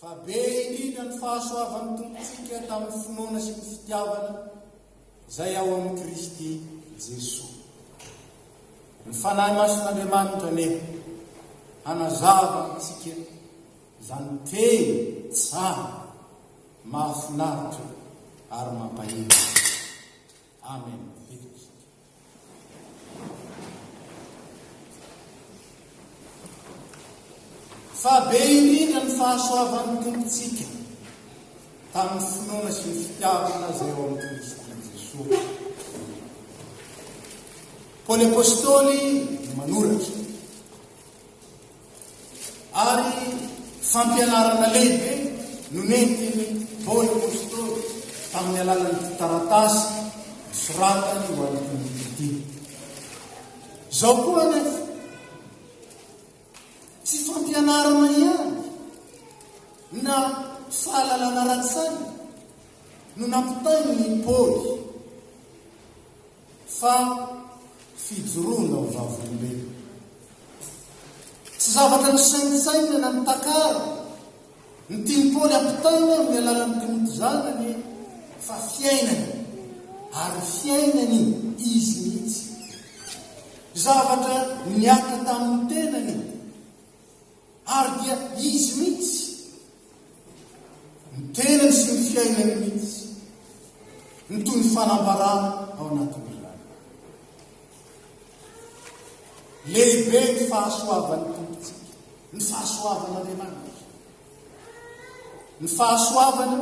Fa be indrindra ny fahasoavan'ny Tompontsika tamin'ny finoana sy ny fitiavana izay ao amin'i Kristy Jesoa. Ny Fanahy Masin'Andriamanitra anie hanazava amintsika izany teny tsara, mahafinaritra ary mampahery. Amen vita isika. Fa be indrindra ny fahasoavan'ny Tompontsika tamin'ny finoana sy ny fitiavana izay ao amin'ny Kristy Jesoa. Paoly Apostoly manoratra. Ary fampianarana lehibe no nentin'i Paoly apostoly tamin'ny alalan'ity taratasy nosoratany ho an'ny Timoty ity. Izao koa anefa, tsy fampianarana ihany na fahalalana ara-tsaina no nampitain'i Paoly Fa fijoroana ho vavolombelona. Tsy zavatra nisaintsainina na nitakara. Ny tian'i Paoly ampitaina amin'ny alalan'i Timoty izany anie fa fiainany, ary fiainany izy mihitsy. Zavatra niatrika tamin'ny tenany, ary dia izy mihitsy. ny tenany sy ny fiainany mihitsy no toy ny fanambarana ao anatin'izany. Lehibe ny fahasoavan'ny Tompontsika, ny fahasoavan'Andriamanitra. Ny fahasoavana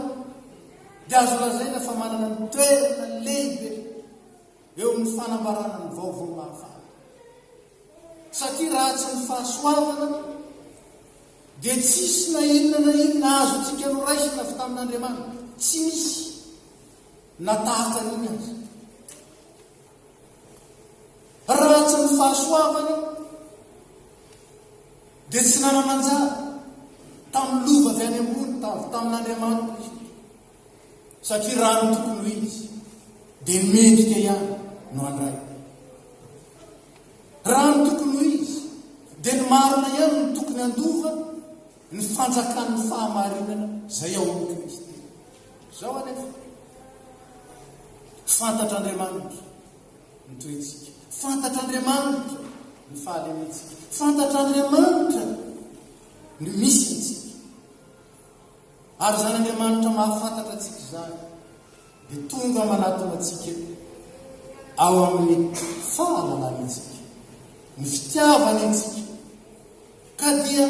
dia azo lazaina fa manana ny toerana lehibe eo amin'ny fanambarana ny vaovao mahafaly. Satria raha tsy ny fahasoavana dia tsisy na inona na inona azontsika noraisina avy tamin'Andriamanitra. Tsy misy na tahaka an'iny aza. Raha tsy ny fahasoavana dia tsy nanana anjara tamin'ny lova avy any ambony, avy tamin'Andriamanitra izy. satria raha ny tokony ho izy dia mendrika ihany no handray. Raha ny tokony ho izy dia ny marina ihany no tokony handova ny fanjakan'ny fahamarinana izay ao amin'ny Kristy. Izao anefa, fantatr'Andriamanitra ny toetsika, fantatr'Andriamanitra ny fahalementsika, fantatr'Andriamanitra ny misy Ary izany Andriamanitra mahafantatra antsika izany dia tonga manatona antsika ao amin'ny fahalalany antsika, ny fitiavany antsika, ka dia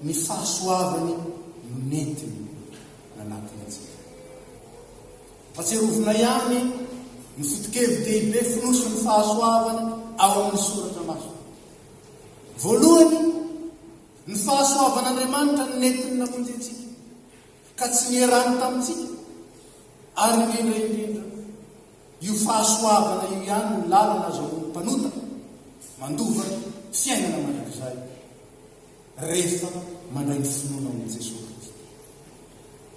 ny fahasoavany no nentiny nanatona antsika. Fatsiarovina ihany ny foto-kevi-dehibe fonosin'ny fahasoavana ao amin'ny Soratra Masina. Voalohany, Ny fahasoavan'Andriamanitra no nentiny namonjy antsika, ka tsy nierany tamintsika, ary indrindra indrindra, io fahasoavana io ihany no lalana azahoan'ny mpanota mandova fiainana mandrakizay, rehefa mandray ny finoana ao amin'i Jesoa Kristy.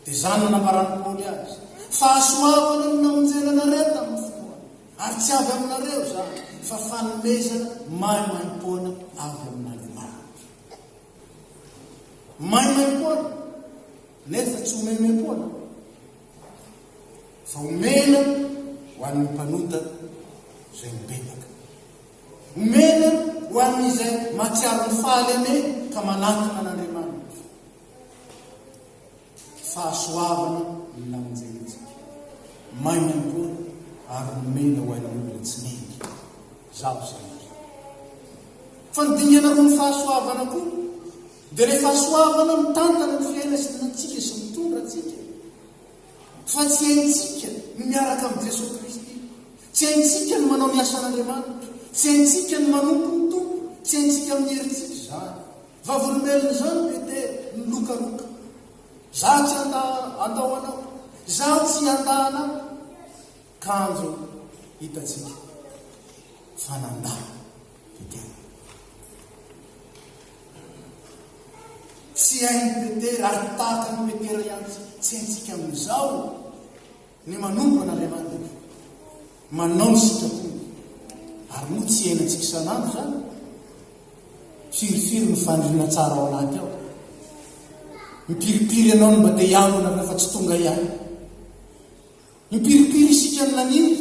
Dia izany no nambaran'i Paoly azy, Fahasoavana no namonjena anareo tamin'ny finoana. Ary tsy avy aminareo izany, fa fanomezana maimaimpoana avy amin'Andriamanitra. Maimaimpoana, nefa tsy homemem-poana, fa omena ho an'ny mpanota izay mibebaka. Omena ho an'izay mahatsiaro ny fahalemeny ka manatona an'Andriamanitra. Fahasoavana ny lamonjentsika. Maina ny taona ary nomena ho ain'ny olona tsy mendrika. Izaho izay indrindra. Fa ny dingana roa ny fahasoavana koa dia ilay fahasoavana mitantana ny fiainantsika sy mitondra antsika. Fa tsy haintsika ny miaraka amin'i Jesoa Kristy. Tsy haintsika ny manao ny asan'Andriamanitra. Tsy haintsika ny manompo ny Tompo. Tsy haintsika amin'ny herintsika izany. Vavolombelon'izany Petera milokaloka. Izaho tsy handà atao anao. Izaho tsy handà anao. Kanjo hitantsika fa nandà Petera. Tsy hain'i Petera ary tahaka an'i Petera ihany tsy haintsika amin'izao. Ny manompana ilay randevo. Manao ny sitrapony. Ary moa tsy iainantsika isan'andro izany? Firifiry ny faniriana tsara ao anaty ao? Mipiripiry ianao ny mba te hiangona rehefa tsy tonga ihany. Mipiripiry isika ny naniry.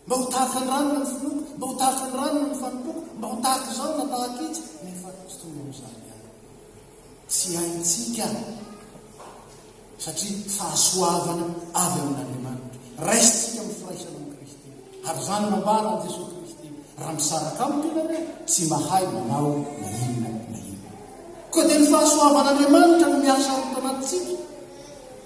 Mba ho tahaka ny rano no nifinoako, mba ho tahaka ny rano no nifanompoako, mba ho tahaka izao na tahaka itsy, nefa tsy toy ny amin'izany ihany. Tsy haintsika, satria fahasoavana avy amin'Andriamanitra. Raisintsika amin'ny firaisana amin'i Kristy. Ary izany nambaran'i Jesoa Kristy, raha misaraka amiko ianareo, tsy mahay manao na inona na inona. Koa dia ny fahasoavan'Andriamanitra no miasa ao anatintsika,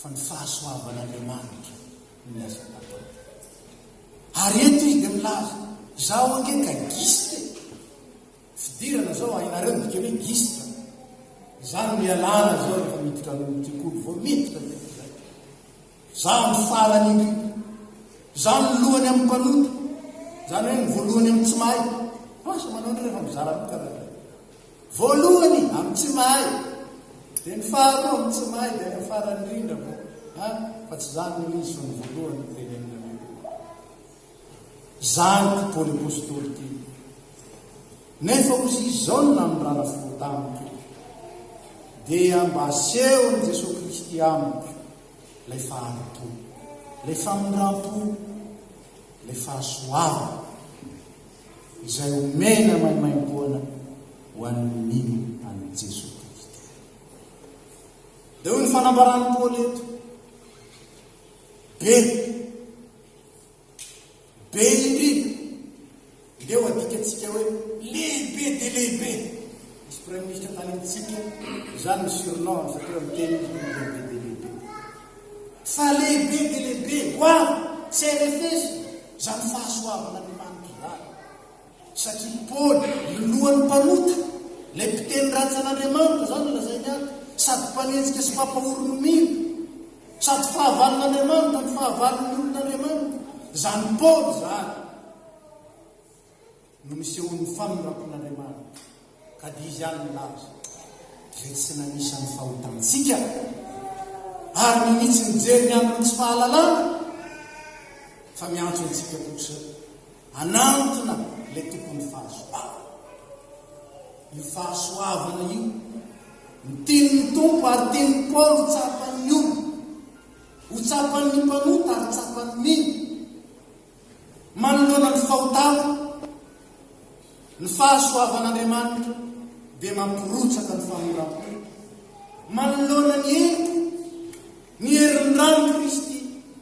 fa ny fahasoavan'Andriamanitra no miasa tato ato. Ary eto izy dia milaza, izaho ange ka giste. Fidirana izao hainareo ny dikany hoe giste. Izany no ialana izao rehefa miditra amin'ny tikoly vao miditra dia izay. Izaho ny farany indrindra. Izaho ny lohany amin'ny mpanota. Izany hoe ny voalohany amin'ny tsy mahay. Asa manao indrindra fa mizara mitana. Voalohany amin'ny tsy mahay, dia ny faharoa amin'ny tsy mahay, dia ny farany indrindra moa an, fa tsy izany no izy fa ny voalohany no tenenina mihitsy. Izany ity Paoly Apostoly ity. Nefa hoy izy izao ny nanondrana fo tamiko, dia mba asehon'i Jesoa Kristy amiko ilay faharotoana, ilay famindram-po, ilay fahasoavana. izay omena maimaimpoana ho an'ny mino an'i Jesoa Kristy. Dia hoy ny fanambaran'i Paoly eto, be, be indrindra, ndeo adikantsika hoe lehibe dia lehibe, misy praiminista tany amintsika, izany ny surnom ny satria miteny izy hoe lehibe dia lehibe. Fa lehibe dia lehibe, ho avy, tsy arefesy, Izany fahasoavana ny lany kiraro. Satria Paoly, ny lohan'ny mpanota, ilay mpiteny ratsy an'Andriamanitra, izany no lazainy ato, sady mpanenjika sy mpampahory ny mino, sady fahavalon'Andriamanitra ny fahavalon'ny olon'Andriamanitra. Izany Paoly izany. no nisehoan'ny famindrapon'Andriamanitra, ka dia Izy ihany nilaza, Izay tsy nanisa ny fahotantsika, ary ninitsy nijery ny amin'ny tsy fahalalana, fa miantso antsika kosa hanantona ilay tompon'ny fahasoavana. Io fahasoavana io, ny tenin'ny Tompo ary tenin'i Paoly ho tsapan'ny olona, ho tsapan'ny mpanota ary tsapan'ny mino, Manoloana ny fahotana, ny fahasoavan'Andriamanitra dia mampirotsaka ny famoram-po. Manoloana ny heriko, ny herin'ny ran'i Kristy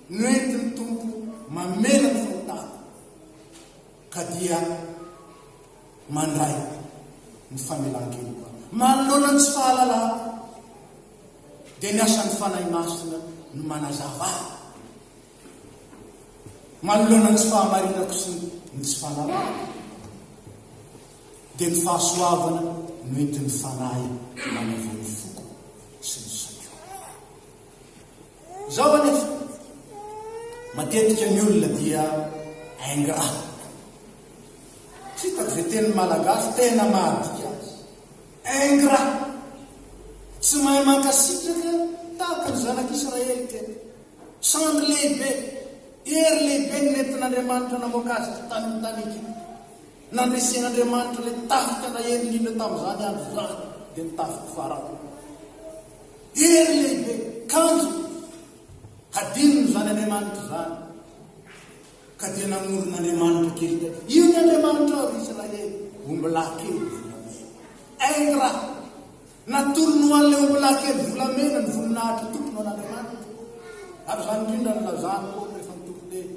no entin'ny Tompo mamela ny fahotana, ka dia mandray ny famelan-keloka. Manoloana ny tsy fahalalako, dia ny asan'ny Fanahy Masina no manazava. Manoloana ny tsy fahamarinako sy ny tsy fahalalako, dia ny fahasoavana no entin'ny Fanahy manavao ny foko sy ny saiko. Izaho anefa, matetika ny olona dia ingrat. Hitako ve teny malagasy tena mahadika azy. Ingrat. Tsy mahay mankasitraka tahaka ny zanak'Israely tena. Sandry lehibe, hery lehibe no nentin'Andriamanitra namoaka azy ity tany amin'ny tany Egypta. Nandresen'Andriamanitra ilay tafika naheno indrindra tamin'izany andro izany, dia ny tafik'i Farao. Hery lehibe, kanjo, hadinony izany Andriamanitra izany. Ka dia namorona Andriamanitra kely tany. Io ny Andriamanitra ao Israely, ombilahy kely. Ingra, Natolony ho an'ilay ombilahy kely volamena ny voninahitr'i Tompony an'Andriamanitra. Ary izany indrindra no nilazany koa rehefa nitory teny.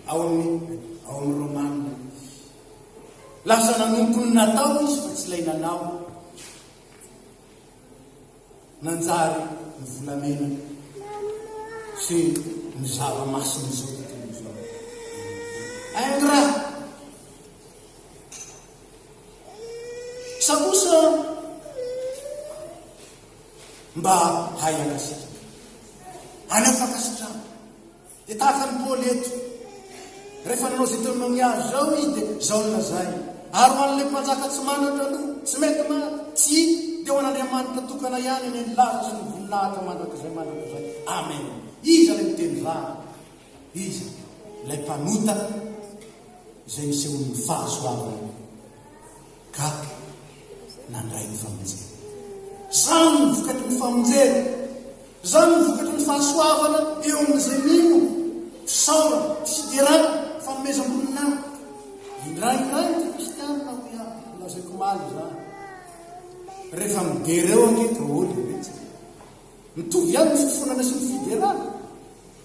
Ao amin'ny ao amin'ny Romana izy. Lasa nanompo ny natao izy fa tsy ilay nanao. Nanjary ny volamena sy ny zava-masin'izao tontolo izao. Ingrat! Sa kosa mba hay ankasitraka? Aleo fankasitrahana. Dia tahaka an'i Paoly eto, rehefa nanao izay teo amin'ny azy izao izy dia izao no lazainy, ary ho an'ilay mpanjaka tsy manatra aloha, tsy mety maty, tsy hita, dia ho an'Andriamanitra tokana ihany ny laza sy ny voninahitra mandrakizay mandrakizay. Amen. Iza ilay miteny izany? Iza ilay mpanota izay nisehoan'ny fahasoavany ka nandray ny famonjena? Izany no vokatry ny famonjena, izany no vokatry ny fahasoavana eo amin'izay mino, fisaorana, fiderana, fanomezam-boninahitra. Indraindray ny kristianina hoy aho, nolazaiko omaly izany, rehefa midera eo ange daholo iretsy, mitovy ihany ny fifonana sy ny fiderana.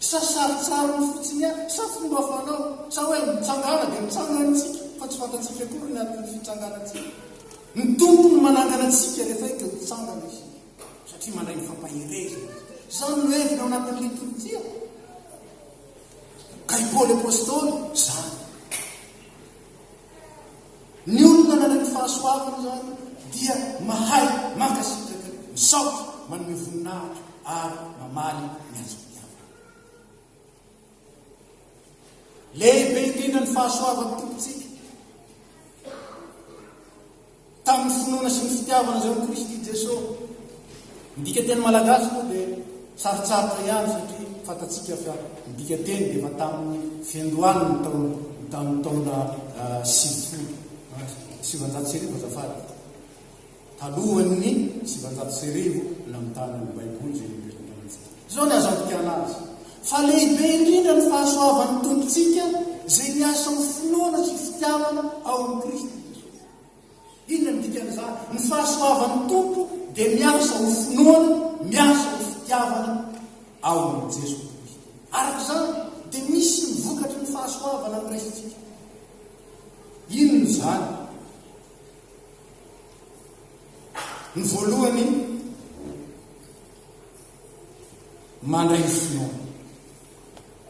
Sa sarintsariny fotsiny ihany? Sa fomba fanao? Sa hoe mitsangàna dia mitsangana isika fa tsy fantatsika akory ny anton'ny fitsangànantsika? Ny Tompo no manangana antsika rehefa hita ho mitsangana isika, satria mandray ny fampaherezana Izy. Izany no heviny ao anatin'ny litorjia. Ka i Paoly Apostoly izany. Ny olona nanana fahasoavana izany dia mahay mankasitraka, misaotra, manome voninahitra ary mamaly ny azy mpihavana. Lehibe indrindra ny fahasoavan'ny Tompontsika. Tamin'ny finoana sy ny fitiavana izay ho Kristy Jeso. Ny dikateny malagasy moa dia sarotsarotra ihany satria fantatsika fa ny dikateny dia efa tamin'ny fiandohan'ny taona tamin'ny taona sivifolo sivanjato sy arivo azafady talohan'ny sivanjato sy arivo namitana ny baiboly izay nipetraka amintsika izao ny azo ampitiana azy fa lehibe indrindra ny fahasoavan'ny tompontsika izay miasa ho finoana sy fitiavana ao amin'ny kristy Inona no dikan'izany? Ny fahasoavan'ny Tompo dia miasa ho finoana, miasa ho fitiavana ao amin'i Jeso Kristo. Araka izany, dia misy ny vokatry ny fahasoavana ny resintsika. Inona izany? Ny voalohany, mandray finoana.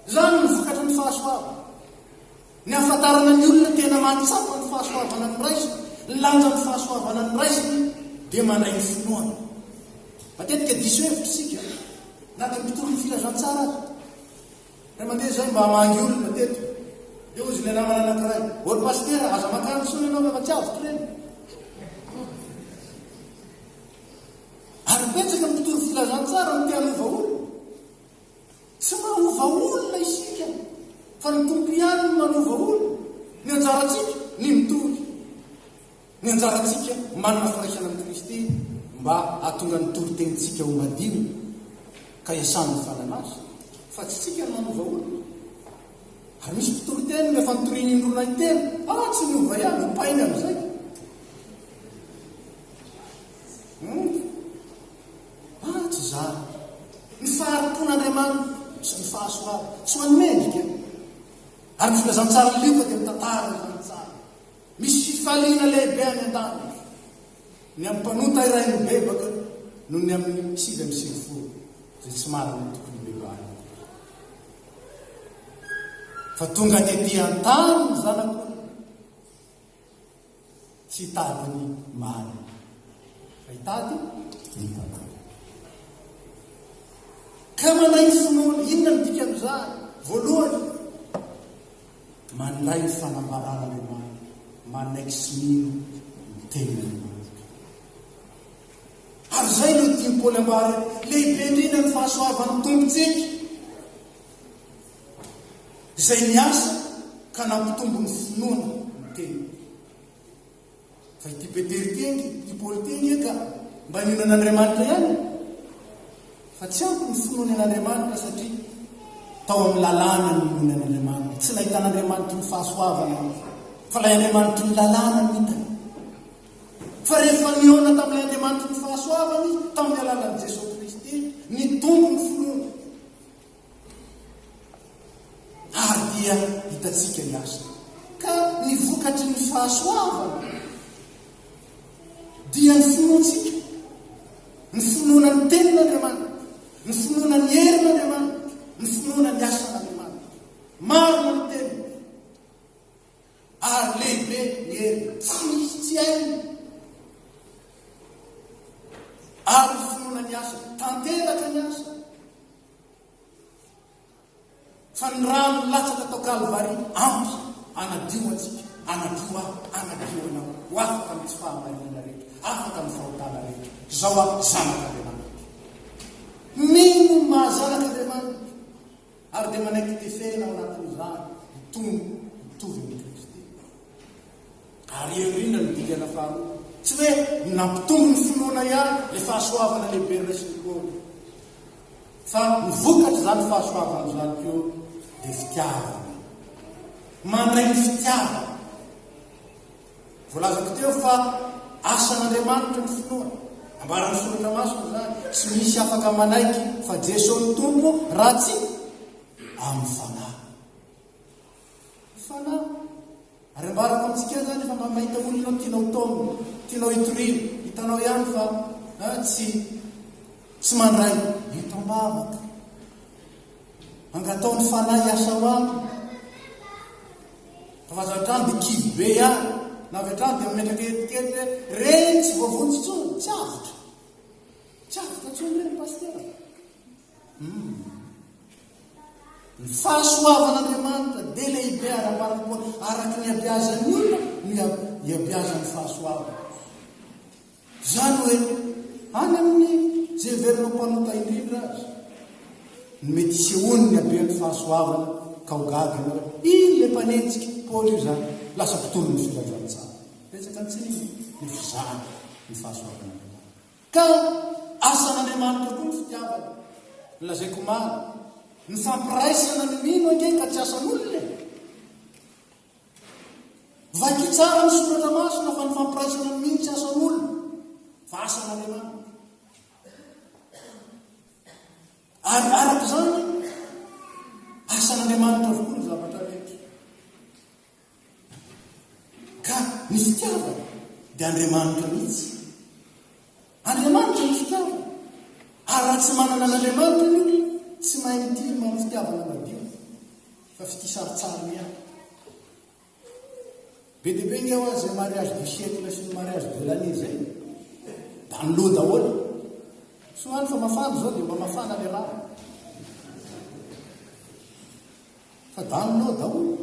Izany no vokatry ny fahasoavana. Ny hahafantarana ny olona tena mahatsapa ny fahasoavana ny raisiny, ny lanjan'ny fahasoavana ny raisiny dia mandray ny finoana. Matetika diso hevitra isika na dia ny mpitorin'ny filazantsara aza. Ray aman-dreny izao mba hamangy olona teto. Dia hozy ilay namana anankiray, ô ry pasitera, aza mankany intsony ianao rehefa tsy avotro ireny. Ary betsaka ny mpitory filazantsara no te hanova olona. Tsy manova olona isika fa ny Tompo ihany no manova olona. Ny anjarantsika ny mitory. Ny anjarantsika manana firaisana amin'i Kristy mba hahatonga ny toritenintsika ho madio ka iasan'ny fanana azy fa tsy isika no manova olona. Ary misy mpitoriteny no efa nitoriany indroa na intelo, ah tsy niova ihany, hopainy amin'izay. Ary tsy izany. Ny fahari-pon'Andriamanitra sy ny fahasoavany. Tsy ho an'ny mendrika. Ary ny filazantsarin'i Lioka dia mitantara ny zana-tsary. Misy fifaliana lehibe any an-danitra ny amin'ny mpanota iray mibebaka noho ny amin'ny sivy amby sivifolo izay tsy manana ny tokony hibebahany. Fa tonga tetỳ an-tany ny Zanak'olona. Tsy hitady ny marina, fa hitady ny tanàna. Ka mandray ny finoana. Inona ny dikan'izany? Voalohany, mandray ny fanambaran'Andriamanitra, manexmino ny tenin'Andriamanitra. Ary izay no tian'i Paoly ambara, lehibe indrindra ny fahasoavan'ny Tompontsika. izay niasa ka nampitombo ny finoana ny tena. Fa ity Petera ity ange, ity Paoly ity ange ka mba nino an'Andriamanitra ihany. Fa tsy ampy ny finoany an'Andriamanitra satria tao amin'ny lalàna ny ninoany an'Andriamanitra. Tsy nahitan'Andriamanitra ny fahasoavana fa ilay Andriamanitra ny lalàna ny hitany. Fa rehefa nihaona tamin'ilay Andriamanitra ny fahasoavany tamin'ny alalan'i Jesosy Kristy, nitombo ny finoany. Ary dia hitantsika ny azy. Ka ny vokatry ny fahasoavana dia ny finoantsika, ny finoana ny tenin'Andriamanitra, ny finoana ny herin'Andriamanitra, ny finoana ny asan'Andriamanitra. Marina ny teny. Ary lehibe ny heriny, tsy misy tsy hainy. Ary ny finoana ny asa, tanteraka ny asa. Fa ny rano nilatsaka tao Kalvary ampy hanadio antsika, hanadio aho, hanadio anao, ho afaka amin'ny tsy fahamarinana rehetra, afaka amin'ny fahotana rehetra. Izao aho zanak'Andriamanitra. Mino ny maha zanak'Andriamanitra ary dia manaiky tefena ao anatin'izany ny tompo mitovy amin'ny Kristy. Ary aoriana ny dingana faharoa. Tsy hoe ny nampitombo ny finoana ihany ilay fahasoavana lehibe noraisiny Paoly, fa ny vokatr'izany fahasoavana izany koa dia fitiavana. Mandray ny fitiavana. Voalazako teo fa asan'Andriamanitra ny finoana. Ambaran'ny Soratra Masina izany. Tsy misy afaka manaiky fa Jesoa no Tompo raha tsy amin'ny fanahy. Fanahy. Ary ambarako amintsika ihany izany fa mba mahita olona no tianao taomina, tianao hitoriana, hitanao ihany fa ah, tsy tsy mandray, eto ambavaka. Angatao ny fanahy hiasa ao aminy. Fa aza hatrany dia kivy be ihany, na avy hatrany dia mametraka etikety hoe reny tsy voavonjy intsony, tsy avotra. Tsy avotra intsony reny, pastera. Humm. Ny fahasoavan'Andriamanitra dia lehibe ary ambarany koa araka ny iabiazan'ny olona no iabiazan'ny fahasoavany. Izany hoe any amin'ny izay heverina ho mpanota indrindra aza no mety hisehoan'ny haben'ny fahasoavana ka ho gaga ianao hoe iny ilay mpanenjika Paoly io izany lasa mpitolon'ny filazantsara. Betsaka antsika ny fizahana ny fahasoavan'Andriamanitra. Ka asan'Andriamanitra koa ny fitiavana. Nolazaiko omaly, ny fampiraisana ny mino ange ka tsy asan'olona e! Vakio tsara ny soratra masina fa ny fampiraisana ny mino tsy asan'olona fa asan'Andriamanitra. Ary araka izany, asan'Andriamanitra avokoa ny zavatra rehetra. Ka ny fitiavana dia Andriamanitra mihitsy. Andriamanitra ny fitiavana. Ary raha tsy manana an'Andriamanitra ny olona, tsy mahay mitia ny manao fitiavana madio, fa fitia sarotsarony ihany. Be dia be ny eo azy mariage du siècle sy ny mariage de l'année izay. Da ny loha daholo. Soa any fa mafana izao dia mba mafana ny rano. Fa daminao daholo.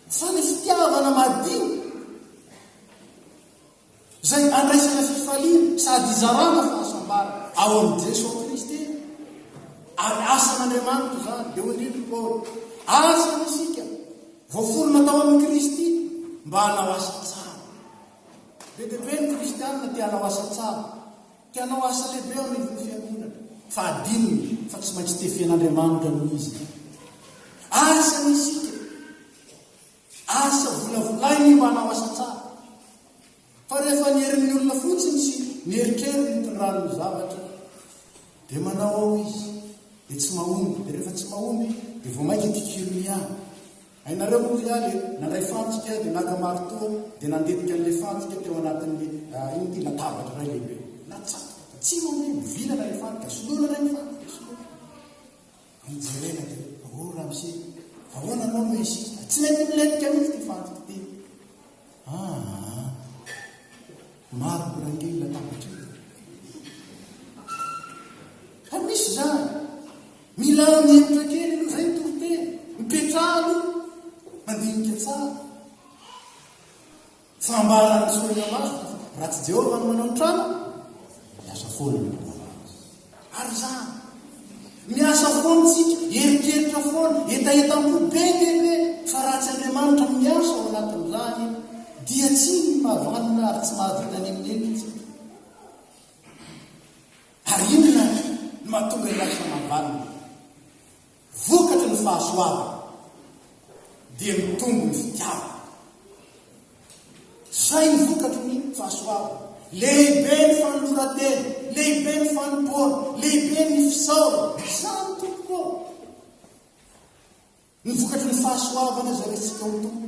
Fa ny fitiavana madio izay andraisana fifaliana sady hizarana fahasambarana ao amin'i Jesoa Kristy ary asan'Andriamanitra izany dia hoy indrindra Paoly, asany isika voaforona tao amin'i Kristy mba hanao asa tsara. Be dia be ny kristianina te hanao asa tsara. Te hanao asa lehibe eo anivon'ny fiangonana. Fa adinony fa tsy maintsy tefian'Andriamanitra aloha izy. Asa ny isika. Asa volavolainy mba hanao asa tsara. Fa rehefa ny herin'ny olona fotsiny sy ny eritreriny mitondran'ny zavatra dia manao ao izy dia tsy mahomby dia rehefa tsy mahomby dia vao mainka kikiromy ihany Hainareo moa ve ary e, nandray fantsika dia naka maritoa dia nandetika an'ilay fantsika teo anatin'ny inona ity, latabatra iray lehibe. Natsatoka fa tsy mandeha, mivilana ilay fantsika, soloina indray ny fantsika, soloina. Ny jerena dia, oh ramose, ahoana ianao no hisisika? Tsy mety milentika mihitsy ity fantsika ity. Aa! Maro ny rangely latabatra eto. Fa misy izany. Mila mihemotra kely aloha izay ny toriteny. Mipetraha aloha. Mandinika tsara. Fambaran'ny sorona masina fa raha tsy Jehovah no manao ny trano, miasa foana ny mpanao azy. Ary izany. Miasa foana isika, eritreritra foana, hetahetam-po be dia be, fa raha tsy Andriamanitra no miasa ao anatin'izany, dia tsy mahavanona ary tsy mahavita n'inon'inona isika. Ary inona no mahatonga ny raha samy havanona? Vokatry ny fahasoavana dia mitombo ny fitiavana. Izay ny vokatry ny fahasoavana. Lehibe ny fanoloran-tena, lehibe ny fanompoana, lehibe ny fisaorana. Izany tompoko ô! Ny vokatry ny fahasoavana izay resintsika ho Tompo.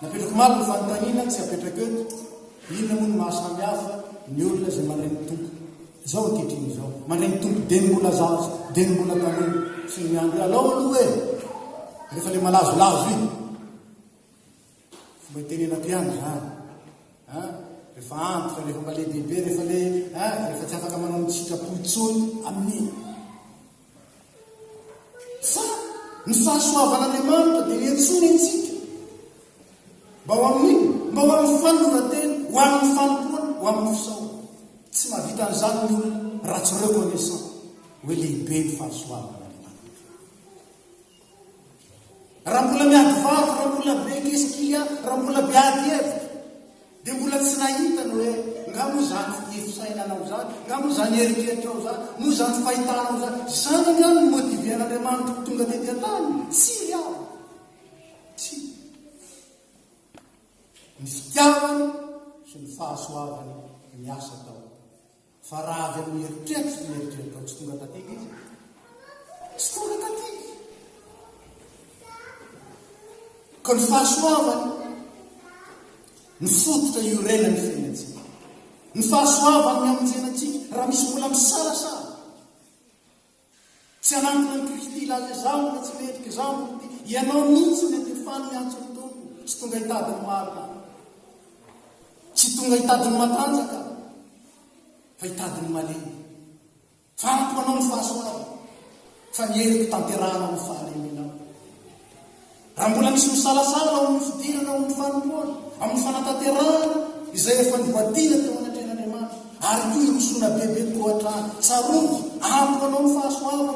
Napetrako omaly ny fanontaniana tsy apetrako eto, inona moa no maha samy hafa ny olona izay mandray ny Tompo izao ankehitriny izao? Mandray ny Tompo dia ny mbola zaza, dia ny mbola tanora, sy ny miandry alao aloha e! Rehefa ilay malazolazo iny, fomba itenenako ihany izany. Rehefa antitra, rehefa mba lehibehibe, rehefa le, rehefa tsy afaka manao ny sitrapo intsony amin'iny. Fa ny fahasoavan'Andriamanitra dia niantsoany antsika mba ho amin'inona? Mba ho amin'ny fanoloran-tena, ho amin'ny fanompoana, ho amin'ny fisaorana. Tsy mahavita an'izany ny olona raha tsy reconnaissant hoe lehibe ny fahasoavan'Andriamanitra. Raha mbola miady vavy, raha mbola be kesikilià, raha mbola be ady hevitra, dia mbola tsy nahita ny hoe nga moa izany fifisainanao izany, nga moa izany eritreritrao izany, moa izany fahitanao izany. Izany angano no motiven'Andriamanitra ho tonga tety an-tany? Tsia aho. Tsia. Ny fitiavany sy ny fahasoavany miasa tao. Fa raha avy amin'ny eritreritra dia eritreritrao tsy tonga taty ilay izy. Tsy tonga taty. Ka ny fahasoavany, ny fototra iorenan'ny fiainantsika. Ny fahasoavany ny hamonjena antsika, raha misy mbola misalasala. Tsy hanangona an'i Kristy hilaza izao na tsy mendrika izao na ity. Ianao mihitsy mety ho faly hiantso ny Tompo sy tonga hitady ny marina. Tsy tonga hitady ny matanjaka fa hitady ny malemy. Fa amiko anao ny fahasoavana fa ny heriko tanterahana ho fahalemenao. Raha mbola misy misalasala ao amin'ny fidirana ao amin'ny fanompoana, amin'ny fanatanterahana izay efa nohadina teo anatrehan'Andriamanitra, ary koa hirosoana bebe koa hatrany, tsarovy, ampy ho anao ny fahasoavana,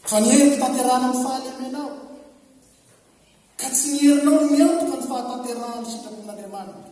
fa ny heriko tanterahana amin'ny fahalemenao, ka tsy ny herinao no miantoka ny fahatanterahana ny sitrapon'Andriamanitra.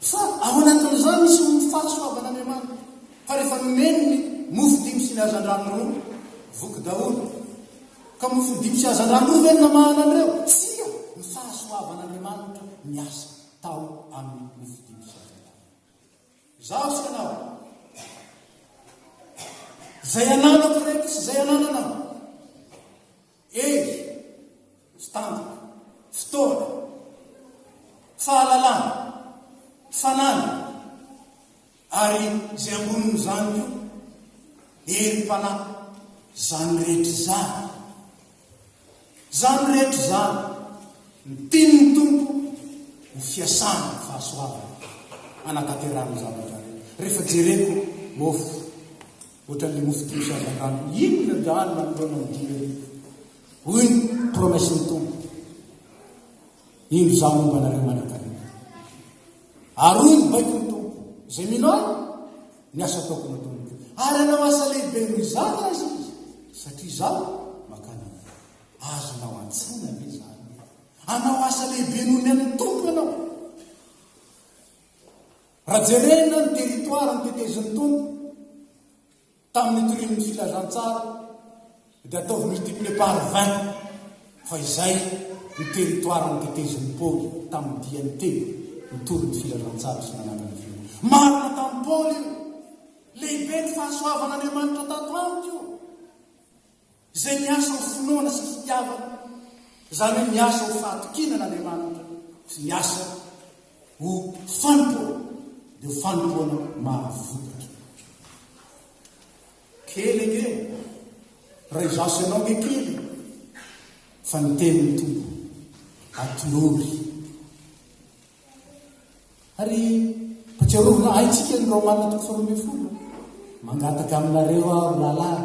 Fa ao anatin'izany misy mofo faty soavan'Andriamanitra. Fa rehefa nomeny ny mofo dimy sy ny hazandrano roa, voky daholo. Ka mofo dimy sy hazandrano roa ve no namahana an'ireo? Tsia! Ny fahasoavan'Andriamanitra niasa tao amin'ny mofo dimy sy hazandrano. Izaho sy ianao, izay ananako ireto sy izay anananao, Hery, mpitandrina, fotoana, fahalalana, fanana, ary izay ambonin'izany koa, herim-panahy. Izany rehetra izany, izany rehetra izany, ny tian'ny Tompo ho fiasana ny fahasoavany hanatanterahany ny zavatra rehetra. Rehefa jereko mofo, Ohatran'ilay mofo dimy sy hazandrano inona dahalo manoloana amin'ny dimy arivo? Hoy ny promesse-n'ny Tompo, Indro Izaho momba anareo manankarena. Ary hoy ny baikon'ny Tompo, izay mino Ahy, ny asa ataoko no ataony. Ary hanao asa lehibe noho izany aza izy, satria Izaho mankany Aminy. Azonao antsoina ve izany hoe hanao asa lehibe noho ny an'ny Tompo ianao? Raha jerena ny territoire notetezin'ny Tompo tamin'ny nitorian'ny filazantsara dia ataovy multiplier par 20 fa izay ny territoire notetezin'ny Paoly tamin'ny diany telo nitory ny filazantsara sy nanangana ny firenena. Marina tamin'i Paoly io. Lehibe ny fahasoavan'Andriamanitra tato amiko. Izay miasa ho finoana sy fitiavana, izany hoe miasa ho fahatokiana an'Andriamanitra sy miasa ho fanompoana, dia ho fanompoana mahavokatra. Kely ange, raha izaho sy ianao ange kely, fa ny tenin'ny Tompo atolory. Ary atsiarovina haintsika ny Romana toko faharoa ambin'ny folo. Mangataka aminareo aho ry lahilahy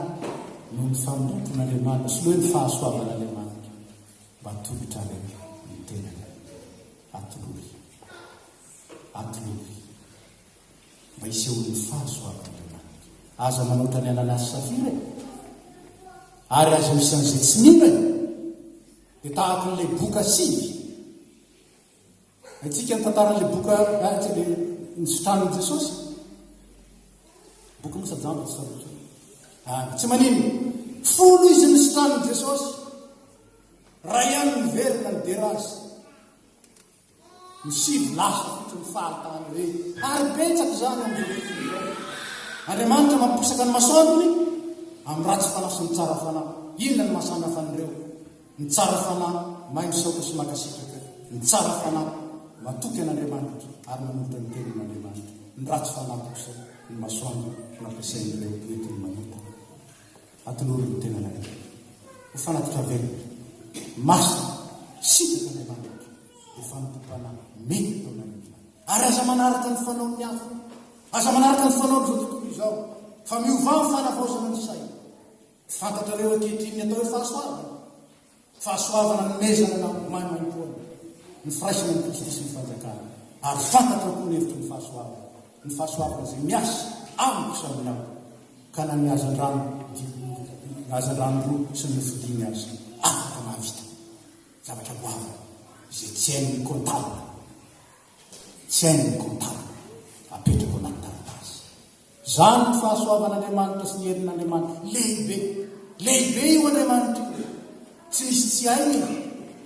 noho ny famindram-pon'Andriamanitra sy noho ny fahasoavan'Andriamanitra mba atolotrareo ny tenanareo. Atolory. Atolory. Mba hisehoan'ny fahasoavan'Andriamanitra. Aza manoatra ny ananasy safira e. Ary aza misy an'izay tsy mila e. Dia tahaka an'ilay boka sivy. Haintsika ny tantaran'ilay boka miaraka dia nisitranan'i Jesosy. Boky Mosa Jamba tsy sarotra. Ah, tsy manino. Folo izy nisitranan'i Jesosy. Raha ihany miverina ny derazy. Ny sivy lasa fotry ny fahatany hoe ary betsaka izany amin'izao. Andriamanitra mampisaka ny masoandrony amin'ny ratsy fanahy sy ny tsara fanahy. Inona ny mahasamihafana ireo? Ny tsara fanahy may misaotra sy makasitraka ny tsara fanahy matoky an Andriamanitra ary manolotra ny tenin Andriamanitra ny ratsy fanahy kosa ny masoandro no ampiasain ireo entiny manota atolory ny tenanareo ho fanatitra velona masina sitraky Andriamanitra dia fanompo panahy mety ataonareo izany ary aza manaraka ny fanaon ny hafa aza manaraka ny fanaon izao tontolo izao fa miovà ny fanavaozana ny saina Fantatrareo ankehitriny ny atao hoe fahasoavana? Fahasoavana nomezana na maimaimpoana ny firaisana amin'i Kristy sy ny fanjakany. Ary fantatrao koa ny hevitry ny fahasoavana, ny fahasoavana izay miasa amiko samy ny amiko, ka na ny hazandrano ny hazandrano roa sy ny nofo dimy aza afaka mahavita zavatra goavana izay tsy hain'ny comptable. Tsy hain'ny comptable apetraka ao anaty taratasy. Izany no fahasoavan'Andriamanitra sy ny herin'Andriamanitra. Lehibe! Lehibe io Andriamanitra io! Tsy misy tsy hainy e!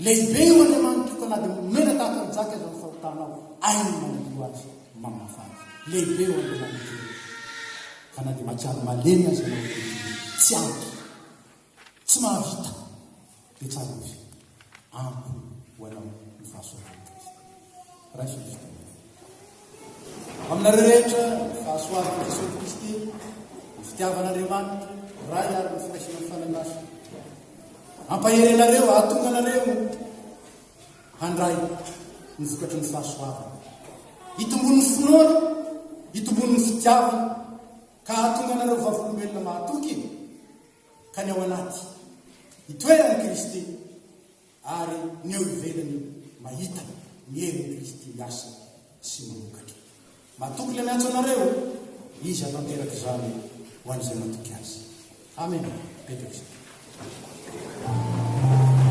Lehibe io Andriamanitra io ka na dia mena tahaka ny jaky aza ny fahotanao, hainy manadio azy, mamafa azy. Lehibe io Andriamanitra io! Ka na dia mahatsiaro malemy aza ianao ankehitriny, tsy ampy. Tsy mahavita. Dia tsara ovy. Ampy ho anao ny fahasoavan'i Kristy. Raiso ny fitiavana. Aminareo rehetra, ny fahasoavan'i Jesosy Kristy, ny fitiavan'Andriamanitra, Ray ary ny firaisana amin'ny Fanahy Masina. Ampahery anareo, hahatonga anareo handray ny vokatry ny fahasoavana. Hitombon'ny finoana, hitombon'ny fitiavana, ka hahatonga anareo vavolombelona mahatoky ka ny ao anaty itoeran'i Kristy ary ny eo ivelany mahita ny herin'i Kristy miasa sy mamokatra. Matoky ilay miantso anareo, Izy hahatanteraka izany ho an'izay matoky Azy. Amena. Petraka izany.